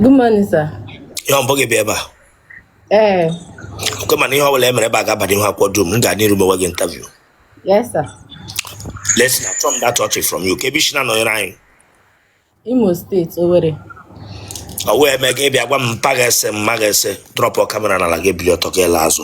Good morning, sir. Ihe ọ bụghị bịa ebe a. Ee. Eh. Nke mana ihe ọ bụla e mere ebe a ga-abanye ihu akwụkwọ dum, m ga n'iru mewe gị interview. Yes, sir. Let's na chọm that touch from you. Kee ebe i shi na nọnyere anyị. Imo steeti, Owerri. Ọ wee mee gị bịa gwa m mpa ga-ese mma ga-ese drọpụ kamera n'ala gị bili ọtọ gị ele azụ.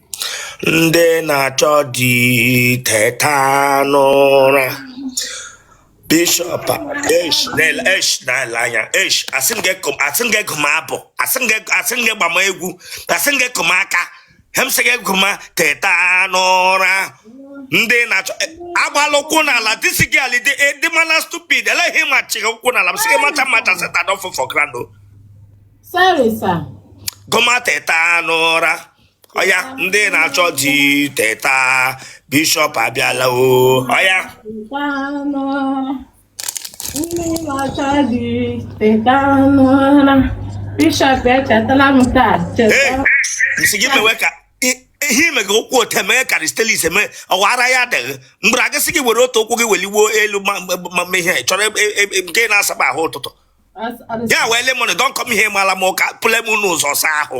ndị na-achọ di teta n'ụra bishọp esh na-ele esh na-ele anya esh asị m gị gụma abụ asị m gị gbama egwu asị m gị kụma aka ihe m sị gị gụma teta n'ụra ndị na-achọ e, agbala ụkwụ n'ala this girl ị dị mana stupid eleghị ma chịghị ụkwụ n'ala m sị gị macha macha Satan don fall for ground o Sorry, sir. gụma teta n'ụra ọya ndị na-achọ di teta bishọp abịala o ọya ndị na-achọ di teta n'ụra bishọp echetala m taa cheta m sị gị mewe ka ihe ime gị ụkwụ ote mee ka ristelis eme ọwa ara ya adịghị mgbe a ga-asị gị were otu ụkwụ gị welie elu ma ihe chọrọ e, e, e, nke na-asaba ahụ ụtụtụ ya wee lemon don come here mala m ụka pụle m n'ụzọ saa ahụ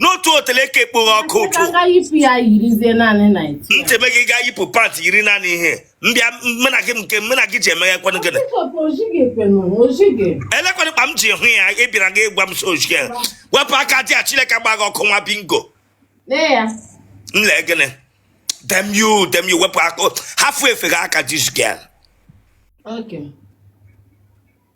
n'otu otele ka ekpoghe ọkụ ụtụ ntị eme gị gaa yipụ pant yiri naanị ihe m bịa mena gị nke mena gị ji emeghe kwanụ gịnị elekwanụ kpa m ji hụ ya ị bịara gị gwa m so ojige wepụ aka there chineke gba gị ọkụ nwa bingo m lee gịnị damn you damn you wepụ aka hafụ efe gị aka this girl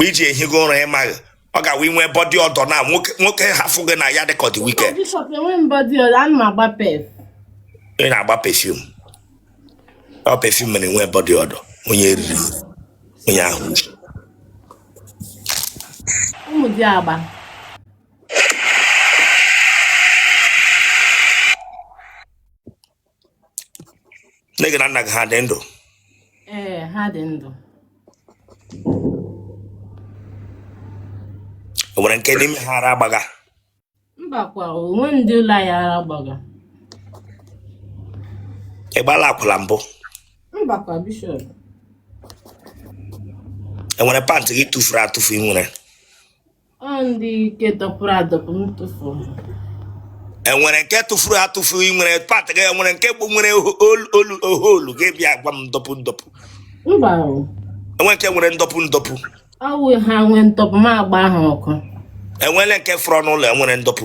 mgbe i ji ehigo ụra ịmaghị ọ ga-awa inwe body odour na nwoke hafụ gị na ya dịka ọ dị wicked Bishop enweghị m body odour ana m agba perf ị na-agba perfume ọ perfume mere nwee body odour onye eriri eri, onye ahụ uche ụmụ dị agba nne gị na nna gị ha dị ndụ ee ha dị ndụ o nwere nke n'ime ha ara gbaga mbakwa o nwe ndị ụlọ anyị ara gbaga ị gbala akwụla mbụ mbakwa bishọp e nwere pant gị tụfuru atụfu ị nwere enwere nke tụfuru atụfu ị nwere pant gị enwere nke bụ nwere hole gị bịa gwa m ndọpụ ndọpụ enwere nke nwere ndọpụ ndọpụ ọ wụ ha nwee ndọpụ ma agba ha ọkụ enwere nke furu n'ụlọ enwere ndọpụ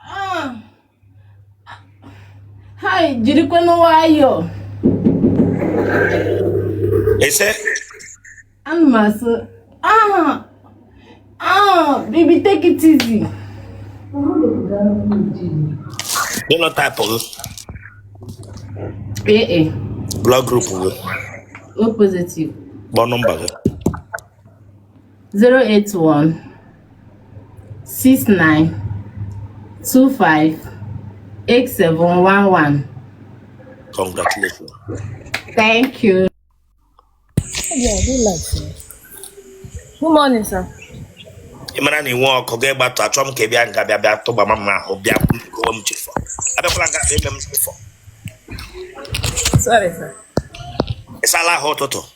Ah! hai jirikwanụ nwayọọ ese ana m asụ ah ah baby take it easy genotype gị AA blood group gị O positive kpọọ nọmba gị 081 69 25 8711 Congratulations. Thank you. Yeah, I do like you. Good morning, sir. ị mara na i nwe ọkụ ga ịgbatụ achọ m ka ị bịa nga bịa bịa tụgba ma mma ahụ bịa kwuo m chefọ abịakwala nga eme m chefọ Sorry, sir. ị saala ahụ ụtụtụ